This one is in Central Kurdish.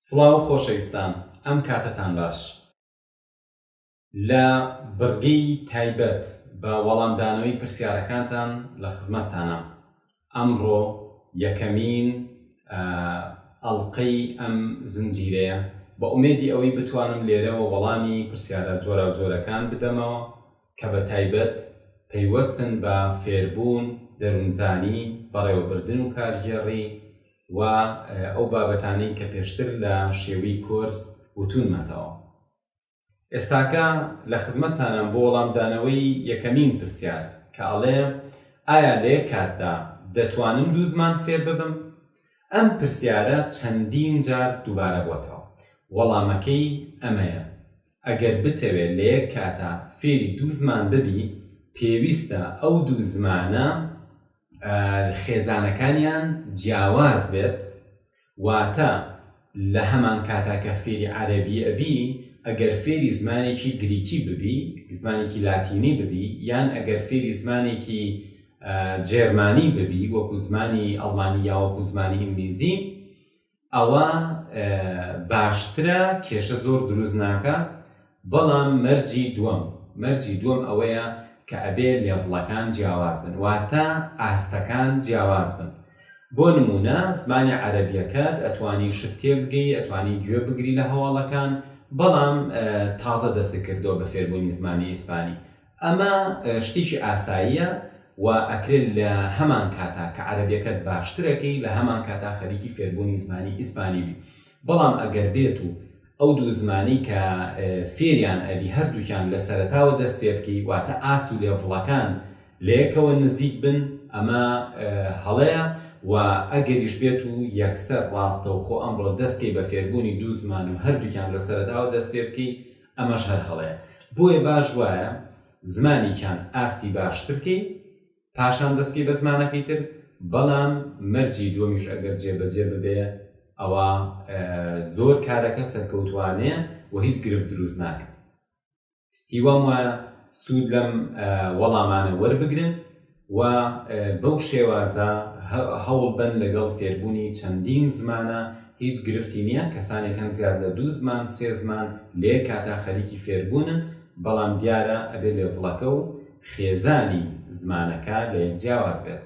سڵاو خۆشەویستان ئەم کاتەتان باش لە بڕگەی تایبەت بە وەڵامدانەوەی پرسیارەکانتان لە خزمەتتانام ئەمڕۆ یەکەمین ئەڵقەی ئەم زنجیرەیە، بە ئومێدی ئەوەی بتوانم لێرەوە وەڵامی پرسیارە جۆراوجۆرەکان بدەمەوە کە بە تایبەت پەیوەستن بە فێربوون، دەروونزانی، بەڕێوەبردن و کارگێڕی و ئەو بابەتانەی کە پێشتر لە شێوی کۆرس وتوونمەتەوە. ئێستاکە لە خزمەتتانام بۆ وەڵامدانەوەی یەکەمین پرسیار کە ئەڵێ ئایا لە یەک کاتدا دەتوانم دوو زمان فێر ببم؟ ئەم پرسیارە چەندین جار دووبارە بۆتەوە وەڵامەکەی ئەمەیە ئەگەر بتەوێ لە یەک کاتا فێری دوو زمان ببی پێویستە ئەو دوو زمانە خێزانەکانیان جیاواز بێت واتە لە هەمان کاتا کە فێری عەرەبی ئەبی ئەگەر فێری زمانێکی گریکی ببی زمانێکی لاتینی ببی یان ئەگەر فێری زمانێکی جێرمانی ببی وەکو زمانی ئەڵمانی یاوەکو زمانی ئینگلیزی ئەوا باشترە کێشە زۆر دروست ناکا بەڵام مەرجی دووەم مەرجی دووەم ئەوەیە کە ئەبێ لێڤڵەکان جیاواز بن واتە ئاستەکان جیاواز بن بۆ نمونە زمانی عەرەبیەکەت ئەتوانی شت تێبگەی ئەتوانی گوێ بگری لە هەواڵەکان بەڵام تازە دەست کردووە بە فێربوونی زمانی ئیسپانی ئەمە شتێکی ئاساییە و ئەکرێت لە هەمان کاتا کە عەرەبیەکەت باشترەکەی لە هەمان کاتا خەریکی فێربوونی زمانی ئیسپانی بی بەڵام ئەگەر بێت و ئەو دوو زمانی کە فێریان ئەبی هەردووکیان لە سەرتاوە دەست پێ بکەی واتە ئاست و لێڤڵەکان لەیەکەوە نزیک بن ئەمە هەڵەیە و ئەگەریش بێت و یەکسەر ڕاستەوخۆ ئەمڕۆ دەستکەی بە فێربوونی دوو زمان و هەردووکیان لە سەرتاوە دەست پێ بکەی ئەمەش هەر هەڵەیە بۆیە باش وایە زمانیکان ئاستی باشتر کەی پاشان دەستکەی بە زمانەکەی تر بەڵام مەرجی دووەمیش ئەگەر جێبەجێ ببێ ئەوە زۆر کارەکە سەرکەوتوانەیە و هیچ گرفت دروست ناکە هیوام وایە سوود لەم وەڵامانە وەربگرن و بەو شێوازە هەوڵ بەن لەگەڵ فێربوونی چەندین زمانە هیچ گرفتی نییە کەسانێک هەن زیاد لە دوو زمان سێ زمان لێ کاتا خەریکی فێربوونن بەڵام دیارە ئەبێ لێڤڵەکە و خێزانی زمانەکە لە یەک جیاواز بێت.